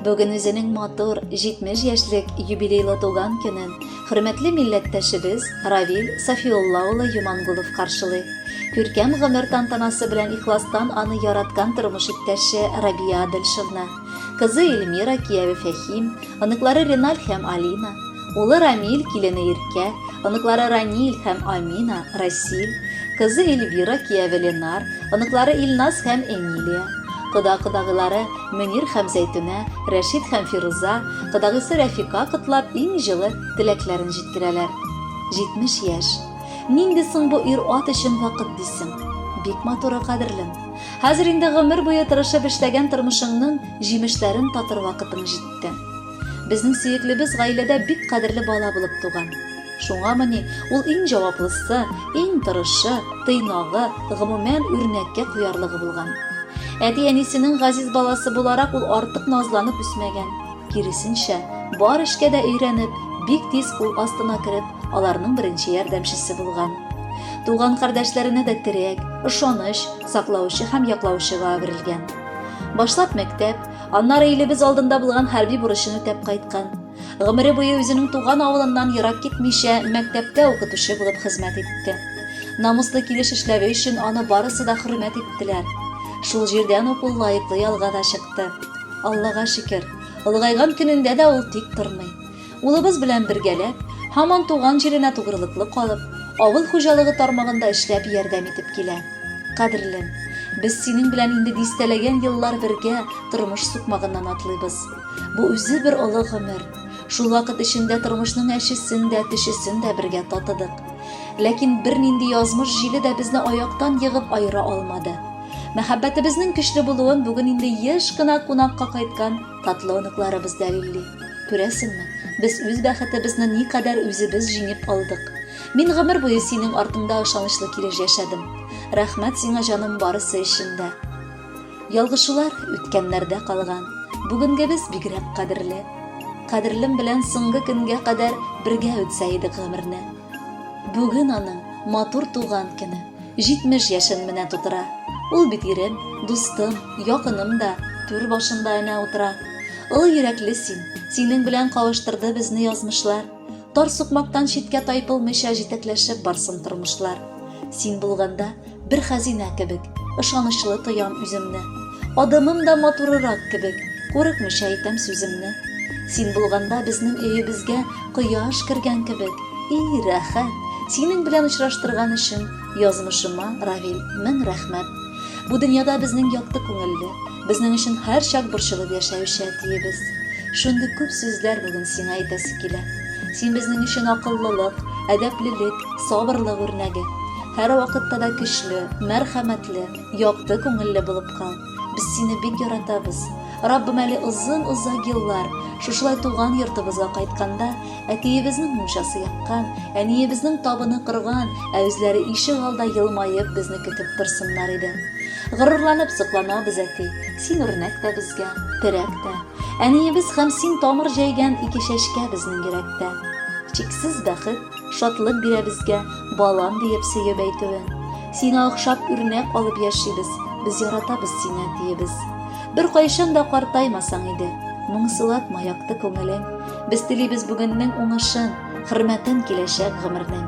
Бүген үзенең матур 70 яшьлек юбилейлы туган көнен хөрмәтле милләттәшебез Равил Сафиулла улы Юмангулов каршылый. Күркәм гомер тантанасы белән ихластан аны яраткан тормыш иптәше Рабия Адельшевна, кызы Эльмира, кияве Фәһим, оныклары Реналь һәм Алина, Улы Рамиль, килене Иркә, оныклары Раниль һәм Амина, Расиль, кызы Эльвира, кияве Ленар, оныклары Илназ һәм Эмилия, кода-кодагыйлары Мөнир һәм Зәйтүнә, Рәшит һәм Фируза, кодагыйсы Рәфика котлап, иң җылы теләкләрен җиткерәләр. 70 яшь. Нинди соң бу ир-ат өчен вакыт дисең? Бик матуры, кадерлем. Хәзер инде гомер буе тырышып эшләгән тормышыңның җимешләрен татыр вакытың җитте. Безнең сөеклебез гаиләдә бик кадерле бала булып туган. Шуңамыни, ул иң җаваплысы, иң тырышы, тыйнагы, гомумән, үрнәккә куярлыгы булган. Әти-әнисенең газиз баласы буларак ул артык назланып үсмәгән. Киресенчә, бар эшкә дә өйрәнеп, бик тиз кул астына кереп, аларның беренче ярдәмчесе булган. Туган кардәшләренә дә терәк, ышаныч, саклаучы һәм яклаучыга әверелгән. Башлап мәктәп, Аннары илебез алдында булган хәрби бурычын үтәп кайткан. Гомере буе үзенең туган авылыннан ерак китмичә, мәктәптә укытучы булып хезмәт итте. Намуслы килеш эшләве өчен аны барысы да хөрмәт иттеләр. Шул җирдән ук ул лаеклы ялга да чыкты. Аллага шөкер, олыгайган көнендә дә ул тик тормый. Улыбыз белән бергәләп, һаман туган җиренә тугрылыклы калып, авыл хуҗалыгы тармагында эшләп ярдәм итеп килә. Кадерлем, без синең белән инде дистәләгән еллар бергә тормыш сукмагыннан атлыйбыз. Бу үзе бер олы гомер. Шул вакыт эчендә тормышның әчесен дә, төчесен дә бергә татыдык. Ләкин бернинди язмыш җиле дә безне аяктан егып аера алмады. Мәхәббәтебезнең көчле булуын бүген инде еш кына кунакка кайткан Татлы оныкларыбыз дәлилли. Күрәсеңме, без үз бәхетебезне никадәр үзебез җиңеп алдык. Мин гомер буе синең артыңда ышанычлы килеш яшәдем. Рәхмәт сиңа, җаным, барысы өчен дә. Ялгышулар үткәннәрдә калган. Бүгенгебез бигрәк кадерле. Кадерлем белән соңгы көнгә кадәр бергә үтсә идек гомерне. Бүген аның матур туган көне, 70 яшен менә тутыра. Ул бит ирем, дустым, якыным да, түр башында әнә утыра. Олы йөрәкле син, синең белән кавыштырды безне язмышлар. Тар сукмактан читкә тайпылмыйча җитәкләшеп барсын тормышлар. Син булганда, бер хәзинә кебек ышанычлы тоям үземне адымым да матурырак кебек курыкмыйча әйтәм сүземне син булганда безнең өебезгә кояш кергән кебек и рәхәт синең белән очраштырган өчен язмышыма равил мең рәхмәт бу дөньяда безнең якты күңелле безнең өчен һәрчак борчылып яшәүче әтиебез шундый күп сүзләр бүген сиңа әйтәсе килә син безнең өчен акыллылык әдәплелек сабырлык үрнәге Һәрвакытта да көчле, мәрхәмәтле, якты күңелле булып кал. Без сине бик яратабыз. Раббым әле озын-озак еллар шушылай туган йортыбызга кайтканда, әтиебезнең мунчасы яккан, әниебезнең табыны кырган, ә үзләре ишек алда елмаеп безне көтеп торсыннар иде. Горурланып сокланабыз, әти, син үрнәк тә безгә, терәк тә. Әниебез һәм син тамыр җәйгән ике чәчкә безнең йөрәктә. Чиксез бәхет, шатлык бирә безгә, балам диеп сөеп әйтүе. Сиңа охшап үрнәк алып яшибез, без яратабыз сине, диебез. Беркайчан да картаймасаң иде, моңсулатма якты күңелен. Без телибез бүгеннең уңышын, хөрмәтен киләчәк гомернең.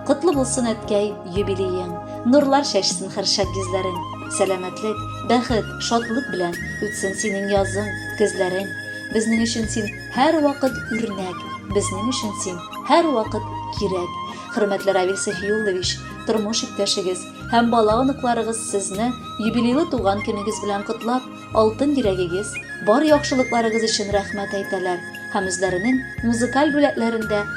Котлы булсын әткәй, юбилеең, нурлар чәчсен хәр шат йөзләрең. Сәламәтлек, бәхет, шатлык белән үтсен синең язың, көзләрең. Безнең өчен син Һәрвакыт үрнәк, безнең өчен син һәрвакыт кирәк. Хөрмәтле Равил Сафиуллович, тормыш иптәшегез һәм бала-оныкларыгыз сезне юбилейлы туган көнегез белән котлап, алтын йөрәгегез, бар яхшылыкларыгыз өчен рәхмәт әйтәләр һәм үзләренең музыкаль бүләкләрендә